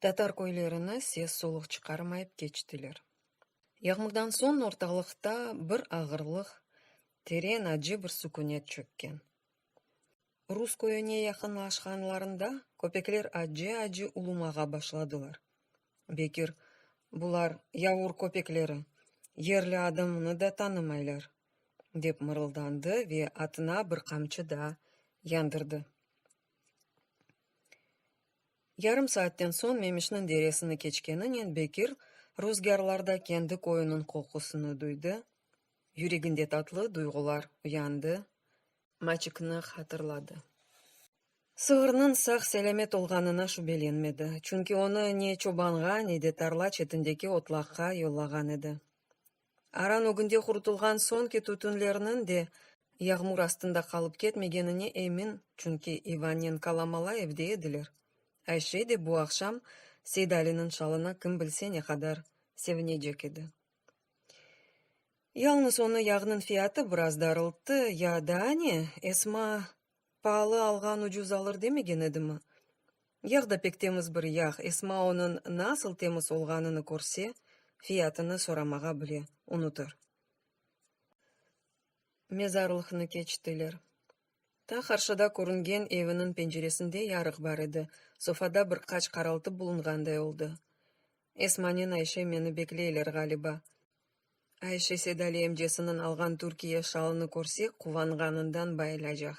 Tatar köylerini ses-soluq çıqarmayıp keçtiler. Yağmurdan soñ ortalıqta bir ağırlıq, teren, acı bir sükünet çökken. Rus köyüne yaqınlaşqanlarında köpekler acı-acı ulumağa başladılar. Bekir, Bular yavur köpekleri, yerli adamını da tanımaylar, dep mırıldandı ve atına bir qamçı daa yandırdı. Yarım saatten soñ Memişniñ deresini keçkeninen Bekir ruzgârlarda kendi köyüniñ qoqusını duydı, yüreginde tatlı duyğular uyandı. Maçıknı hatırladı. Sığırnıñ sağ-selâmet olğanına şübelenmedi, çünki onı ne çobanğa, ne de tarla çetindeki otlaqqa yollağan edi. Aran ögünde qurutılğan soñki tütünlerniñ de yağmur astında qalıp ketmegenine emin, çünki İvannen Kalamala evde ediler. Ayşe de bu aqşam Seydaliniñ şalına kim bilse ne qadar sevinecek edi. Yalnız onı yağnıñ fiyatı biraz darılttı, ya daa ne, Esma paalı alğan ucuz alır demegen edimi? Yağ da pek temiz bir yağ, Esma onıñ nasıl temiz olğanını körse, fiyatını soramağa bile unutır. Mezarlıqnı keçtiler. Ta qarşıda körüngen eviniñ penceresinde yarıq bar edi, sofada bir qaç qaraltı bulunğanday oldı. Esmanen Ayşe meni bekleyler ğaliba. Ayşe Sedali emcesiniñ alğan Türkiye şalını körse quvanğanından bayılacaq,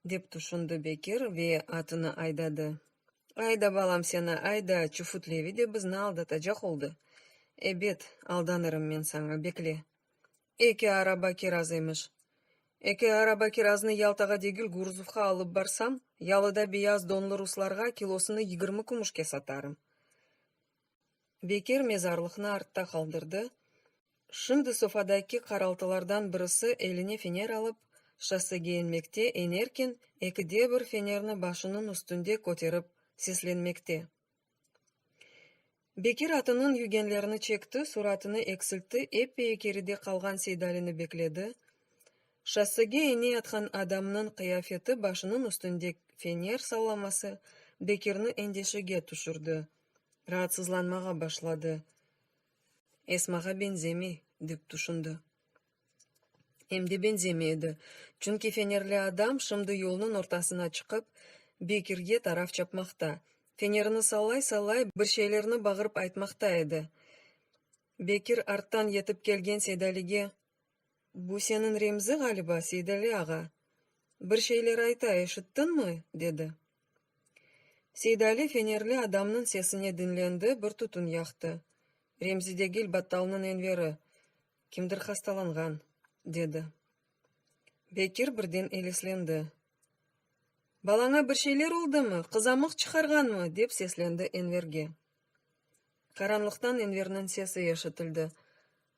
dep tüşündi Bekir ve atını aydadı. Ayda, balam, seni ayda, Çufut-Levi de bizni aldatacaq oldı. Ebet, aldanırım men saña, bekle! Eki araba kiraz emiş. Eki araba kiraznı Yaltağa degil Guruzovqa alıp barsam, yalıda beyaz donlı ruslarğa kilosını yigirmi kümüşke satarım. Bekir mezarlıqnı artta qaldırdı. Şimdi sofadaki qaraltılardan birisi eline fener alıp, şossege inmekte, inerken, eki de bir fenerni başınıñ üstünde köterip seslenmekte. Bekir atınıñ yügenlerini çekti, suratını eksiltti, eppeyi keride qalğan Seydalini bekledi. Şossege eneyatqan adamnıñ qıyafeti, başınıñ üstünde fener sallaması Bekirni endeşege tüşürdi. Raatsızlanmağa başladı. Esmağa beñzemey, dep tüşündi. Em de benzemey edi. Çünki fenerli adam şimdi yolnıñ ortasına çıqıp, Bekirge taraf çapmaqta, fenerini sallay-sallay, bir şeylerni bağırıp aytmaqta edi. Bekir arttan yetip kelgen Seydalige, Bu seniñ Remzi, ğaliba, Seydali ağa. Bir şeyler ayta, eşittiñmi? dedi. Seydali fenerli adamnıñ sesine diñlendi, bir tütün yaqtı. Remzidegil battalnıñ Enveri, Kimdir hastalanğan, dedi. Bekir birden eleslendi. Balaña bir şeyler oldımı, qızamıq çıqarğanmı? dep seslendi Enverge. Qaranlıqtan Enverniñ sesi eşitildi,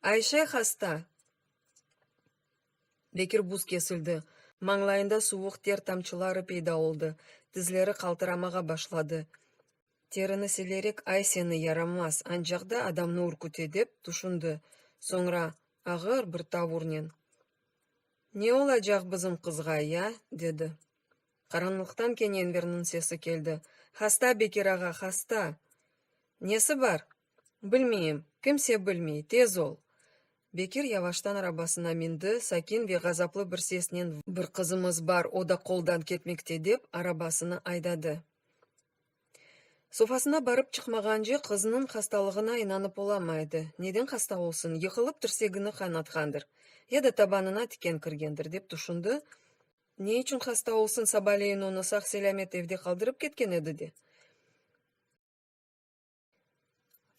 Ayşe hasta! Bekir buz kesildi, mañlayında suvuq ter tamçıları peyda oldı, tizleri qaltıramağa başladı. Terini silerek ay seni yaramaz, ancaq da adamnı ürküte dep tüşündi. Soñra ağır bir tavurnen, Ne olacaq bizim qızğa, ya? dedi. Qaranlıqtan kene Enverniñ sesi keldi, Hasta, Bekir ağa, hasta! Nesi bar? Bilmeyim, kimse bilmey, tez ol! Bekir yavaştan arabasına mindi, sakin ve ğazaplı bir sesnen Bir qızımız bar, o da qoldan ketmekte, dep arabasını aydadı. Sofasına barıp çıqmağance qıznıñ hastalığına inanıp olamay edi, neden hasta olsun, yıqılıp tirsegini qaynatqandır, ya da tabanına tiken kirgendir, dep tüşündi, Ne içün hasta olsun, sabaleyin onı sağ-selâmet evde qaldırıp ketken edi de.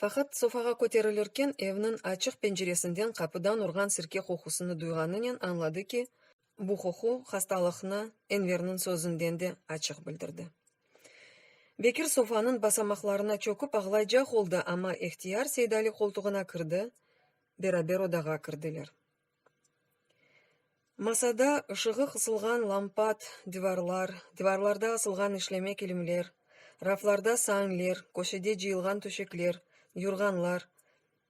Faqat sofağa köterilirken evniñ açıq penceresinden qapıdan urğan sirke qoqusını duyğanınen añladı ki, bu qoqu hastalıqnı Enverniñ sözünden de açıq bildirdi. Bekir sofanıñ basamaqlarına çökip ağlaycaq oldı, amma ehtiyar Seydali qoltuğına kirdi, beraber odağa kirdiler. Masada ışığı qısılğan lampat, divarlar, divarlarda asılğan işleme kilimler, raflarda sañler, köşede cıyılğan töşekler, yurğanlar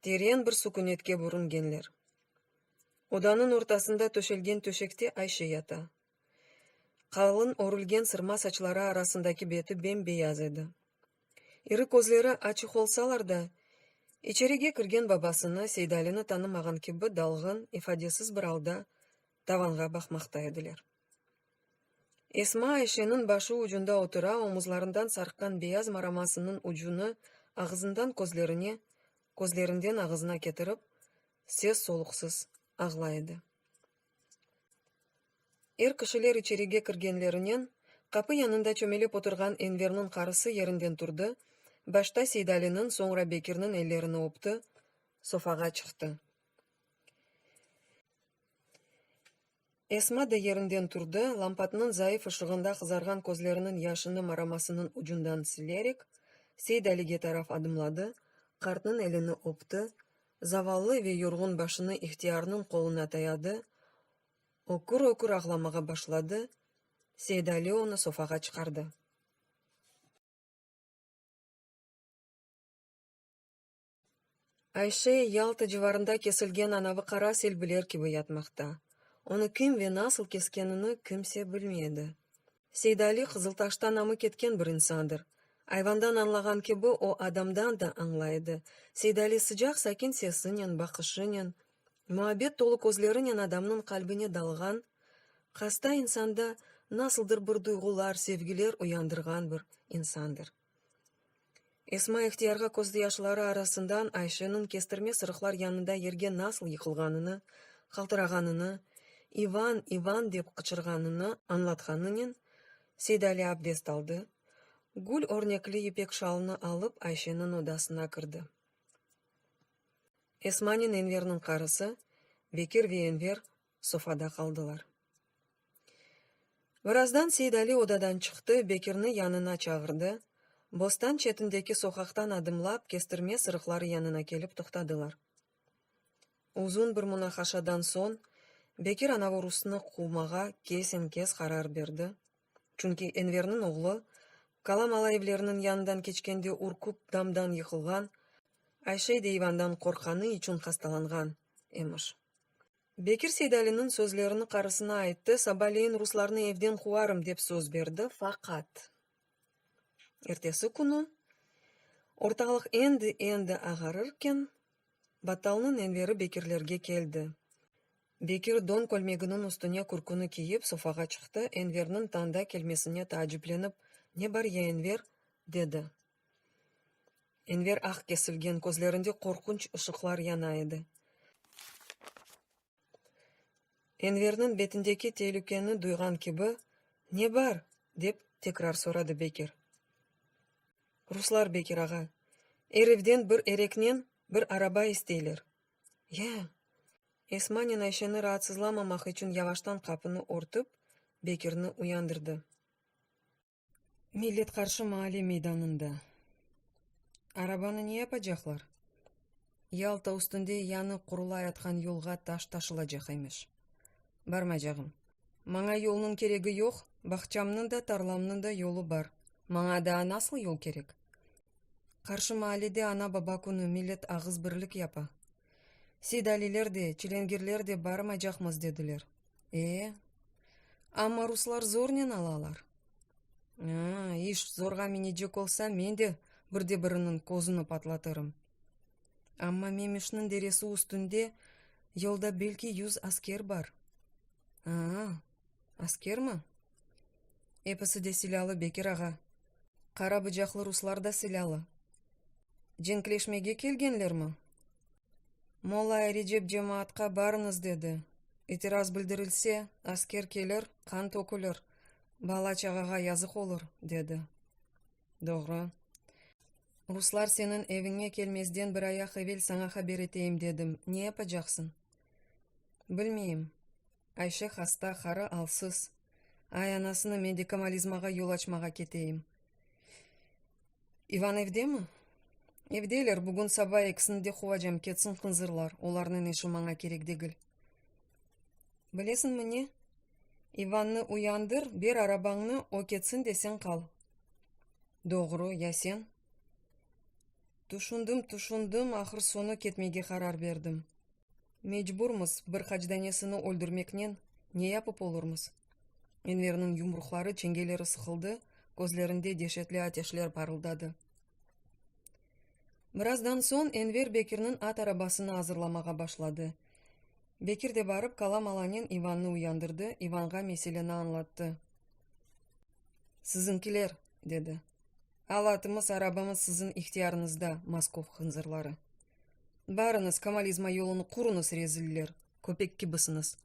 teren bir sukünetke bürüngenler. Odanıñ ortasında töşelgen töşekte Ayşe yata. Qalın örülgen sırma saçları arasındaki beti bem-beyaz edi. İri közleri açıq olsalar da, içerige kirgen babasını, Seydalini tanımağan kibi dalğın, ifadesiz bir alda tavanğa baqmaqta ediler. Esma Ayşeniñ başı ucunda otura, omuzlarından sarqqan beyaz maramasınıñ ucunı ağızından közlerine, közlerinden ağızına ketirip, ses-soluqsız ağlay edi. Er kişiler içerige kirgenlerinen, qapı yanında çömelip oturğan Enverniñ qarısı yerinden turdı, başta Seydaliniñ, soñra Bekirniñ ellerini öpti, sofağa çıqtı. Esma da yerinden turdı, lampatnıñ zayıf ışığında qızarğan közleriniñ yaşını maramasınıñ ucundan silerek, Seydalige taraf adımladı, qartnıñ elini öpti, Zavallı ve yorğun başını ihtiyarnıñ qoluna dayadı, ökür-ökür ağlamağa başladı, Seydali onı sofağa çıqardı. Ayşe, Yalta civarında kesilgen anavı qara selbiler kibi yatmaqta. Onı kim ve nasıl keskenini kimse bilmey edi. Seydali Qızıltaşta namı ketken bir insandır. Ayvandan añlağan kibi, o adamdan da añlay edi. Seydali sıcaq, sakin sesinen, baqışınen, muabbet tolu közlerinen adamnıñ qalbine dalğan, hasta insanda nasıldır bir duyğular, sevgiler uyandırğan bir insandır. Esma ihtiyarğa közdeyaşları arasından Ayşeniñ kestirme sırıqlar yanında yerge nasıl yıqılğanını, qaltırağanını, İvan, İvan dep qıçırğanını añlatqanınen, Seydali abdest aldı, gül örnekli ipek şalını alıp Ayşeniñ odasına kirdi. Esmanen Enverniñ qarısı, Bekir ve Enver sofada qaldılar. Birazdan Seidali odadan çıqtı, Bekirni yanına çağırdı, bostan çetindeki soqaqtan adımlap, kestirme sırıqları yanına kelip toqtadılar. Uzun bir munaqaşadan soñ Bekir Anavorusnı quvmağa kesen-kes qarar berdi, çünki Enverniñ oğlu, qala mala evleriniñ yanından keçkende ürküp damdan yıqılğan, Ayşe deyvandan qorqqanı içün hastalanğan emiş. Bekir Seydaliniñ sözlerini qarısına ayttı, sabaleyin ruslarnı evden quvarım, dep söz berdi, faqat, ertesi künü, ortalıq endi-endi ağarırken, battalnıñ Enveri Bekirlerge keldi. Bekir don kölmeginiñ üstüne kürküni kiyip, sofağa çıqtı, Enverniñ tanda kelmesine taaciplenip, Ne bar ya, Enver? dedi. Enver aq kesilgen közlerinde qorqunç ışıqlar yana edi. Enverniñ betindeki telükeni duyğan kibi, Ne bar? dep tekrar soradı Bekir. Ruslar, Bekir ağa. Er evden bir ereknen bir araba isteyler. Ya! Esmanen Ayşeni raatsızlamamaq içün yavaştan qapını örtüp, Bekirni uyandırdı. Millet qarşı maale meydanında. Arabanı ne yapacaqlar? Yalta üstünde yanı qurulayatqan yolğa taş taşılacaq emiş. Barmacağım. Maña yolnıñ keregi yoq, bağçamnıñ da, tarlamnıñ da yolu bar. Maña daa nasıl yol kerek? Qarşı maalede ana-baba künü, millet ağız birlik yapa. Seydaliler de, çilengirler de barmaycaqmız dediler. E, amma ruslar zornen alalar. A, iş zorğa minecek olsa, men de bir de biriniñ közüni patlatırım. Amma Memişniñ deresi üstünde yolda belki yüz asker bar. A, Askermi? Episi de silâlı, Bekir ağa. Qara bıcaqlı ruslar da silâlı. Cenkleşmege kelgenlermi? Molay Recep cemaatqa barıñız dedi. İtiraz bildirilse, asker kelir, qan tökülir, bala-çağağa yazıq olur, dedi. Doğru. Ruslar seniñ eviñe kelmezden bir ayaq evel saña haber eteyim dedim. Ne yapacaqsıñ? Bilmeyim. Ayşe hasta, hara, alsız. Ay, anasını medikamalizmağa yol açmağa keteyim. İvan evdemi? Evdeler, bugün saba ekisini de quvacam, ketsin hınzırlar, olarnıñ işi maña kerek degil. Bilesiñmi ne? İvannı uyandır, ber arabañnı, o ketsin de sen qal. Doğru, ya sen? Tüşündim, tüşündim, ahır-soñu ketmege qarar berdim. Mecburmız, bir qaç danesini öldürmeknen ne yapıp olurmız? Enverniñ yumruqları, çengeleri sıqıldı, közlerinde deşetli ateşler parıldadı. Birazdan soñ Enver Bekirniñ at arabasını azırlamağa başladı. Bekir de barıp, Kala Malanen İvannı uyandırdı, İvanğa meseleni añlattı. Siziñkiler! dedi. Alatımız, arabamız siziñ ihtiyarıñızda, Moskov hınzırları! Barıñız, kemalizma yolunı quruñız, reziller! Köpek kibisiñiz.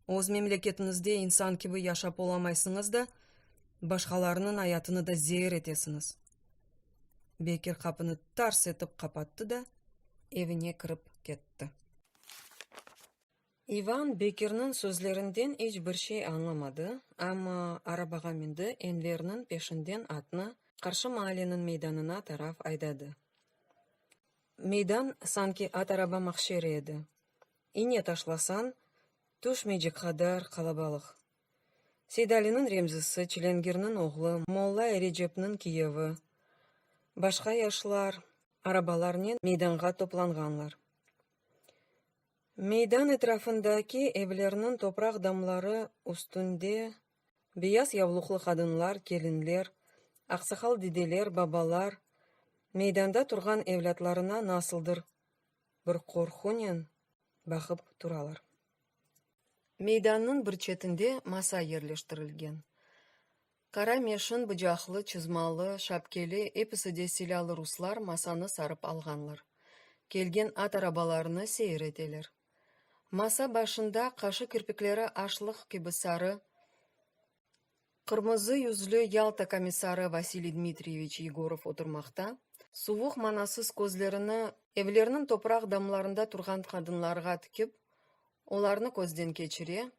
Öz memleketiñizde insan kibi yaşap olamaysıñız da, başqalarınıñ ayatını da zeer etesiñiz! Bekir qapını tars etip qapattı da, evine kirip ketti. İvan Bekirniñ sözlerinden iç bir şey añlamadı, amma arabağa mindi, Enverniñ peşinden atnı qarşı maaleniñ meydanına taraf aydadı. Meydan sanki at araba mahşeri edi, iñe taşlasañ tüşmeycek qadar qalabalıq. Seydaliniñ Remzisi, Çilengirniñ oğlu, Molla Erecepniñ kiyevi, başqa yaşlar arabalarnen meydanğa toplanğanlar. Meydan etrafındaki evlerniñ topraq damları üstünde beyaz yavluqlı qadınlar, kelinler, aqsaqal dedeler, babalar meydanda turğan evlâtlarına nasıldır bir qorqunen baqıp turalar. Meydannıñ bir çetinde masa yerleştirilgen. Qara meşin, bıcaqlı, çızmalı, şapkeli, episi de silâlı ruslar masanı sarıp alğanlar. Kelgen at arabalarını seyir eteler. Masa başında, qaşı kirpikleri aşlıq kibi sarı, qırmızı yüzlü Yalta komissarı Vasiliy Dmitriyeviç Yegorov oturmaqta, suvuq, manasız közlerini evlerniñ topraq damlarında turğan qadınlarğa tikip, olarnı közden keçire,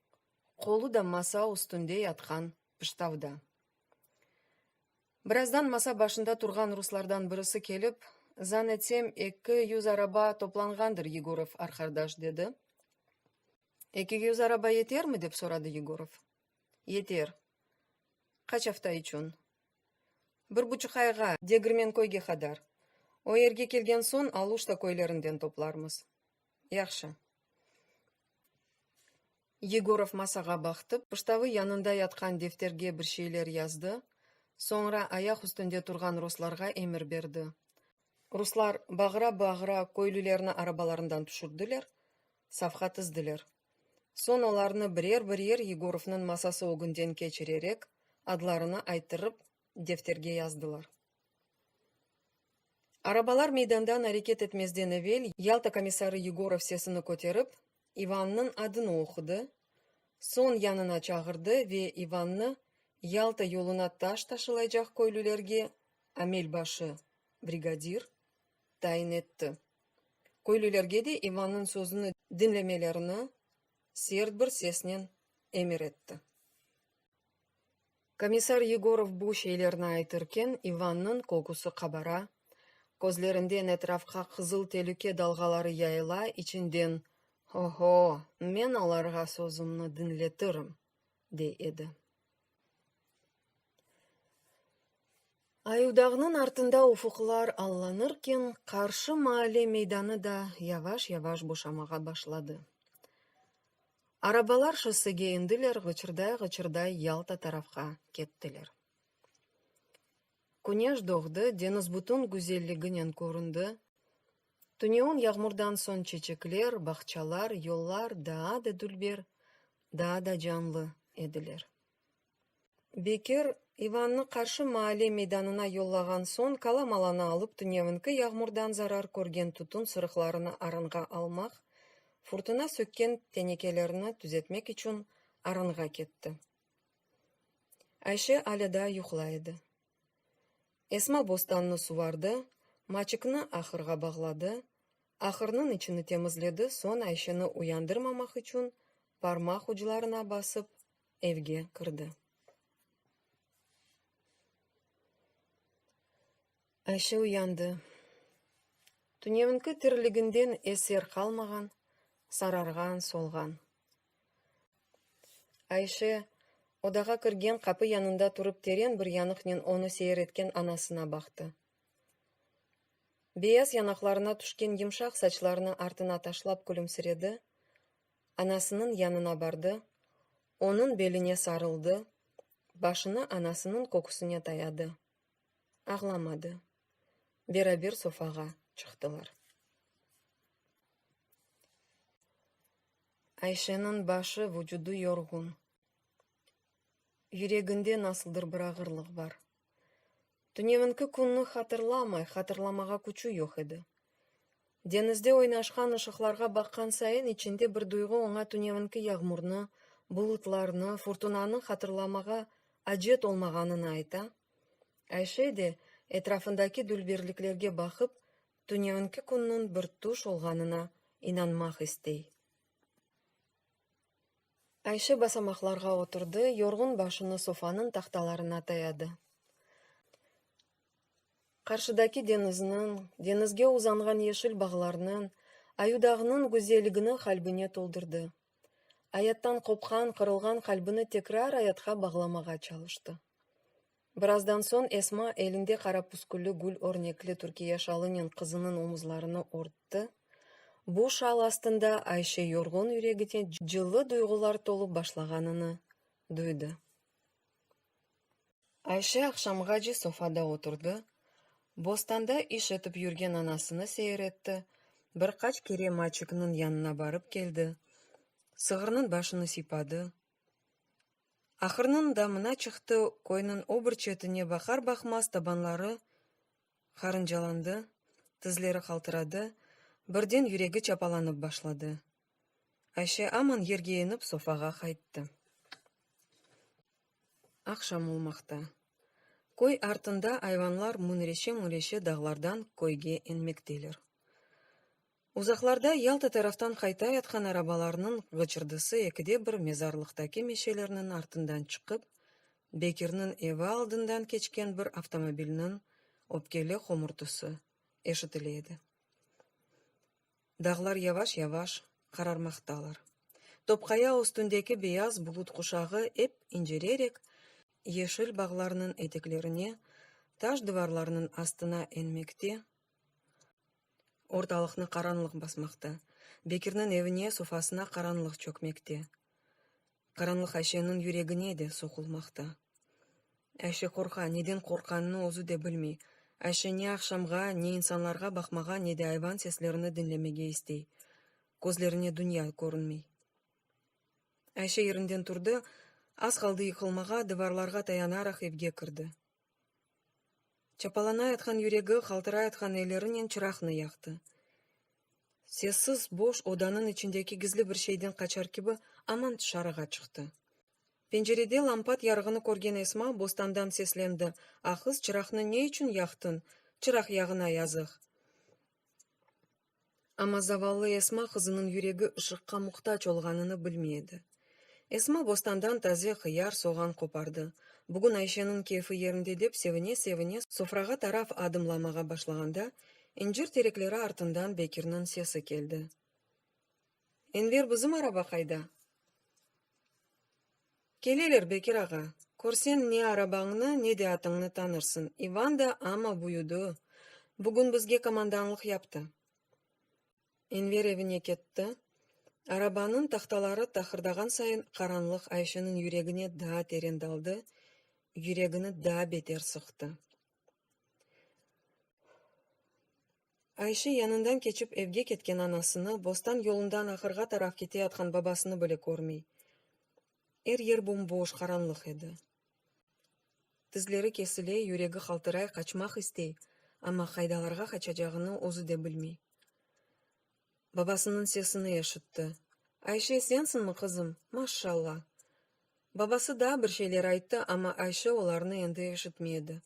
qolu da masa üstünde yatqan Pıştavda. Birazdan masa başında turğan ruslardan birisi kelip, Zannetsem, eki yüz araba toplanğandır, Yegorov arqardaş, dedi. Eki yüz araba yetermi? dep soradı Yegorov. Yeter. Qaç afta içün? Bir buçuq ayğa, Degirmenköyge qadar. O yerge kelgen soñ Aluşta köylerinden toplarmız. Yahşı. Yegorov masağa baqtı, pıştavı yanında yatqan defterge bir şeyler yazdı, soñra ayaq üstünde turğan ruslarğa emir berdi. Ruslar bağıra-bağıra köylülerni arabalarından tüşürdiler, safqa tizdiler. Soñ olarnı birer-birer Yegorovnıñ masası ögünden keçirerek, adlarını ayttırıp, defterge yazdılar. Arabalar meydandan areket etmezden evel Yalta komissarı Yegorov sesini köterip, İvannıñ adını oqudı, soñ yanına çağırdı ve İvannı Yalta yoluna taş taşılaycaq köylülerge amel başı, brigadir, tayin etti. Köylülerge de İvannıñ sözüni diñlemelerini sert bir sesnen emir etti. Komissar Yegorov bu şeylerni aytırken İvannıñ kokusı qabara, közlerinden etrafqa qızıl telüke dalğaları yayıla, içinden, Ho-ho, men olarğa sözümni diñletirim! dey edi. Ayudağnıñ artında ufuqlar allanırken, qarşı maalle meydanı da yavaş-yavaş boşamağa başladı. Arabalar şossege endiler, ğıçırday-ğıçırday Yalta tarafqa kettiler. Küneş doğdı, deñiz bütün güzelliginen köründi. Tüneün yağmurdan soñ çeçekler, bağçalar, yollar daa da dülber, daa da canlı ediler. Bekir, İvannı qarşı maale meydanına yollağan soñ, kalamalanı alıp, tünevinki yağmurdan zarar körgen tütün sırıqlarını arınğa almaq, furtuna sökken tenekelerni tüzetmek içün arınğa ketti. Ayşe alâ daa yuqlay edi. Esma bostannı suvardı, maçıknı ahırğa bağladı, ahırnıñ içini temizledi, soñ Ayşeni uyandırmamaq içün parmaq uclarına basıp evge kirdi. Ayşe uyandı. Tünevinki tiriliginden eser qalmağan, sararğan, solğan. Ayşe odağa kirgen qapı yanında turıp teren bir yanıqnen onı seyir etken anasına baqtı. Beyaz yanaqlarına tüşken yımşaq saçlarını artına taşlap külümsiredi, anasınıñ yanına bardı, onıñ beline sarıldı, başını anasınıñ köküsine dayadı. Ağlamadı. Beraber sofağa çıqtılar. Ayşeniñ başı, vucudı yorğun. Yüreginde nasıldır bir ağırlıq bar. Tünevinki künni hatırlamay, hatırlamağa küçü yoq edi. Deñizde oynaşqan ışıqlarğa baqqan sayın içinde bir duyğu oña tünevinki yağmurnı, bulutlarnı, furtunanı hatırlamağa acet olmağanını ayta, Ayşe de, etrafındaki dülberliklerge baqıp, tünevinki künniñ bir tüş olğanına inanmaq istey. Ayşe basamaqlarğa oturdı, yorğun başını sofanıñ tahtalarına tayadı. Qarşıdaki deñizniñ, deñizge uzanğan yeşil bağlarnıñ, Ayudağnıñ güzelligini qalbine toldurdı. Ayattan qopqan, qırılğan qalbini tekrar ayatqa bağlamağa çalıştı. Birazdan soñ Esma elinde qara püskülli gül örnekli Türkiye şalınen qızınıñ omuzlarını örtti. Bu şal astında Ayşe yorğun yüregine cıllı duyğular tolıp başlağanını duydı. Ayşe aqşamğace sofada oturdı, bostanda iş etip yürgen anasını seyir etti, bir qaç kere Maçıknıñ yanına barıp keldi, sığırnıñ başını siypadı, Ahırnıñ damına çıqtı, köyniñ o bir çetine baqar-baqmaz tabanları qarıncalandı, tizleri qaltıradı, birden yüregi çapalanıp başladı. Ayşe aman yerge enip sofağa qayttı. Aqşam olmaqta. Köy artında ayvanlar müñreşe-müñreşe dağlardan köyge enmekteler. Uzaqlarda Yalta taraftan qayta yatqan arabalarnıñ gıcırdısı ekide bir mezarlıqtaki meşelerniñ artından çıqıp, Bekirniñ evi aldından keçken bir avtomobilniñ öpkeli homurtısı eşitile edi. Dağlar yavaş-yavaş qararmaqtalar. Topqaya üstündeki beyaz bulut quşağı ep inceleyerek yeşil bağlarnıñ eteklerine, taş divarlarnıñ astına enmekte, Ortalıqnı qaranlıq basmaqta. Bekirniñ evine, sofasına qaranlıq çökmekte. Qaranlıq Ayşeniñ yüregine de soqulmaqta. Ayşe qorqa, neden qorqqanını özü de bilmey. Ayşe ne aqşamğa, ne insanlarğa baqmağa, ne de ayvan seslerini diñlemege istey. Közlerine dünya körünmey. Ayşe yerinden turdı, az qaldı yıqılmağa, divarlarğa tayanaraq evge kirdi. Çapalanayatqan yüregi qaltırayatqan ellerinen çıraqnı yaqtı. Sessiz, boş odanıñ içindeki gizli bir şeyden qaçar kibi aman tışarığa çıqtı. Pencerede lampat yarığını körgen Esma bostandan seslendi, Ahız, çıraqnı ne içün yaqtıñ? Çıraq yağına yazıq! Amma zavallı Esma qızınıñ yüregi ışıqqa muhtac olğanını bilmey edi. Esma bostandan taze hıyar, soğan qopardı. Bugün Ayşeniñ keyfi yerinde dep sevine-sevine sofrağa taraf adımlamağa başlağanda, incir terekleri artından Bekirniñ sesi keldi. Enver, bizim araba qayda? Keleler, Bekir ağa, körsen ne arabañnı, ne de atıñnı tanırsın. İvan da amma büyüdi, bugün bizge komandanlıq yaptı. Enver evine ketti. Arabanıñ tahtaları taqırdağan sayın qaranlıq Ayşeniñ yüregine daa teren daldı, yüregini daa beter sıqtı. Ayşe yanından keçip evge ketken anasını, bostan yolundan ahırğa taraf keteyatqan babasını bile körmey. Er yer bomboş, qaranlıq edi. Tizleri kesile, yüregi qaltıray, qaçmaq istey, amma qaydalarğa qaçacağını özü de bilmey. babasınıñ sesini eşitti. Ayşe, sensiñmi, qızım? Maşşalla! Babası daa bir şeyler ayttı, amma Ayşe olarnı endi eşitmey edi.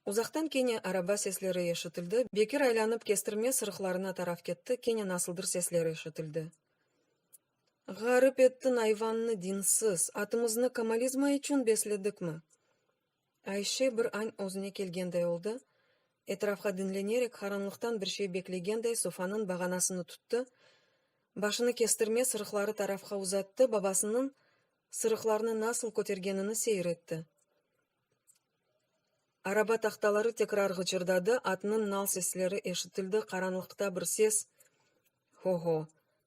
Uzaqtan kene araba sesleri eşitildi. Bekir aylanıp kestirme sırıqlarına taraf ketti, kene nasıldır sesler eşitildi. Ğarip ettiñ ayvannı dinsiz! Atımıznı komalizma içün besledikmi? Ayşe bir añ özüne kelgenday oldı, etrafqa diñlenerek qaranlıqtan bir şey beklegenday sofanıñ bağanasını tuttı, başını kestirme sırıqları tarafqa uzattı, babasınıñ sırıqlarnı nasıl kötergenini seyir etti. Araba tahtaları tekrar ğıcırdadı, atnıñ nal sesleri eşitildi, qaranlıqta bir ses, Ho-ho!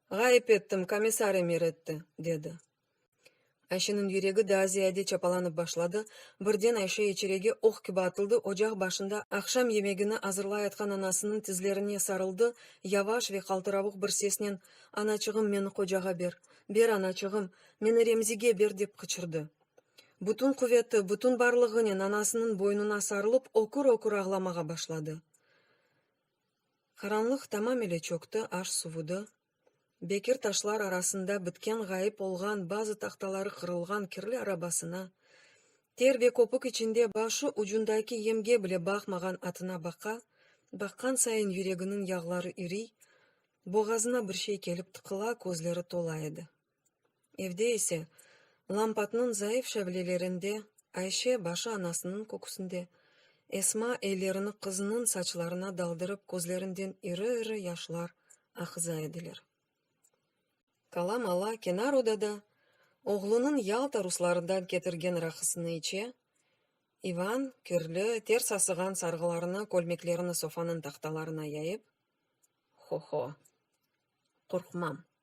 Ğayıp ettim, komissar emir etti! dedi. Ayşeniñ yüregi daa ziyade çapalanıp başladı, birden Ayşe içerege oq kibi atıldı, ocaq başında aqşam yemegini azırlayatqan anasınıñ tizlerine sarıldı, yavaş ve qaltıravuq bir sesnen, Anaçığım, meni qocağa ber! Ber, anaçığım! Meni Remzige ber! dep qıçırdı. Bütün quveti, bütün barlığınen anasınıñ boynuna sarılıp, ökür-ökür ağlamağa başladı. Qaranlıq tamamile çökti, aş suvudı. Bekir taşlar arasında bitken ğayıp olğan bazı tahtaları qırılğan kirli arabasına, ter ve köpük içinde başı ucundaki yemge bile baqmağan atına baqa, baqqan sayın yüreginiñ yağları iriy, boğazına bir şey kelip tıqıla, közleri tola edi. Evde ise, lampatnıñ zayıf şavlelerinde Ayşe başı anasınıñ köküsinde, Esma ellerini qızınıñ saçlarına daldırıp közlerinden iri-iri yaşlar aqıza ediler. Kalam ala kenar odada oğlunıñ Yalta ruslarından ketirgen raqısını içe, İvan, kirli, ters asığan sarğılarını, kölmeklerini sofanıñ tahtalarına yayıp, Ho-ho, qorqmam.